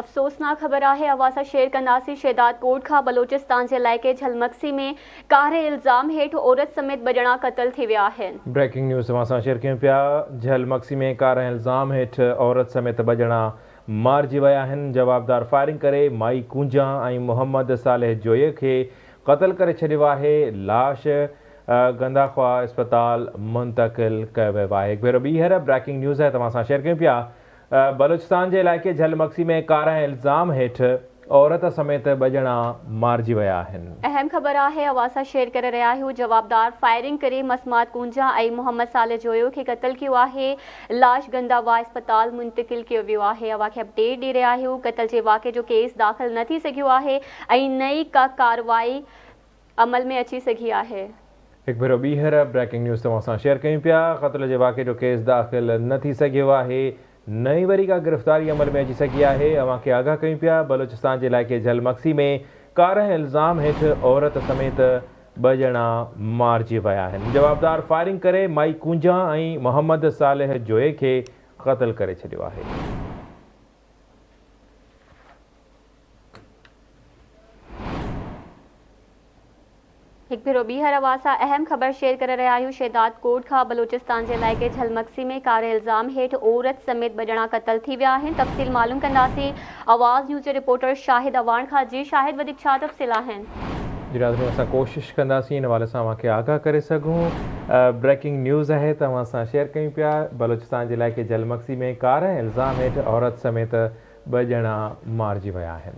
افسوسناڪ خبر آهي اوهان سان شيئر ڪنداسين شهداد ڪوٽ کان بلوچستان جي علائقي جهلمڪسي ۾ ڪاري الزام هيٺ عورت سميت ٻه ڄڻا قتل ٿي ويا آهن. بريڪنگ نيوز اوهان سان شيئر ڪيون پيا جهلمڪسي ۾ ڪاري الزام هيٺ عورت سميت ٻه ڄڻا مارجي ويا آهن جوابدار فائرنگ ڪري مائي ڪونجان ۽ محمد صالح جويي کي قتل ڪري ڇڏيو آهي لاش گنداخواه اسپتال منتقل ڪيو ويو آهي هڪ ڀيرو ٻيهر بريڪنگ نيوز توهان سان شيئر ڪيون پيا. بلوچستان جي علائقي جهل مگسي ۾ ڪارنهن الزام هيٺ عورت سميت ٻه ڄڻا مارجي ويا آهن. اهم خبر آهي اوهان سان شيئر ڪري رهيا آهيون جوابدار فائرنگ ڪري مسمات ڪونجا ۽ محمد صالح جويو کي قتل ڪيو آهي لاش گندا واء اسپتال منتقل ڪيو ويو آهي اوهان کي اپڊيٽ ڏئي رهيا آهيون قتل جي واقعي جو ڪيس داخل نه ٿي سگهيو آهي ۽ نه ئي ڪا ڪارروائي عمل ۾ اچي سگهي آهي. هڪ ڀيرو ٻيهر بريڪنگ نيوز توهان سان شيئر ڪيون پيا، قتل جي واقعي جو ڪيس داخل نه ٿي سگهيو آهي، نه ئي وري ڪا گرفتاري عمل ۾ اچي سگهي آهي، اوهان کي آگاهه ڪيون پيا، بلوچستان جي علائقي جهل مگسي ۾ ڪارنهن الزام هيٺ عورت سميت ٻه ڄڻا مارجي ويا آهن، جوابدار فائرنگ ڪري مائي ڪونجا ۽ محمد صالح جويي کي قتل ڪري ڇڏيو آهي. هڪ ڀيرو ٻيهر اوهان سان اهم خبر شيئر ڪري رهيا آهيون شهداد ڪوٽ کان بلوچستان جي علائقي جهلمڪسي ۾ ڪاري الزام هيٺ عورت سميت ٻه ڄڻا قتل ٿي ويا آهن تفصيل معلوم ڪنداسين آواز نيوز جي رپورٽر شاهد اعواڻ کان جي شاهد وڌيڪ ڇا تفصيل آهن. جي ناظرين اسان ڪوشش ڪنداسين ان حوالي سان اوهان کي آگاهه ڪري سگهون بريڪنگ نيوز آهي ته اوهان سان شيئر ڪيون پيا بلوچستان جي علائقي جهلمڪسي ۾ ڪاري الزام هيٺ عورت سميت ٻه ڄڻا مارجي ويا آهن.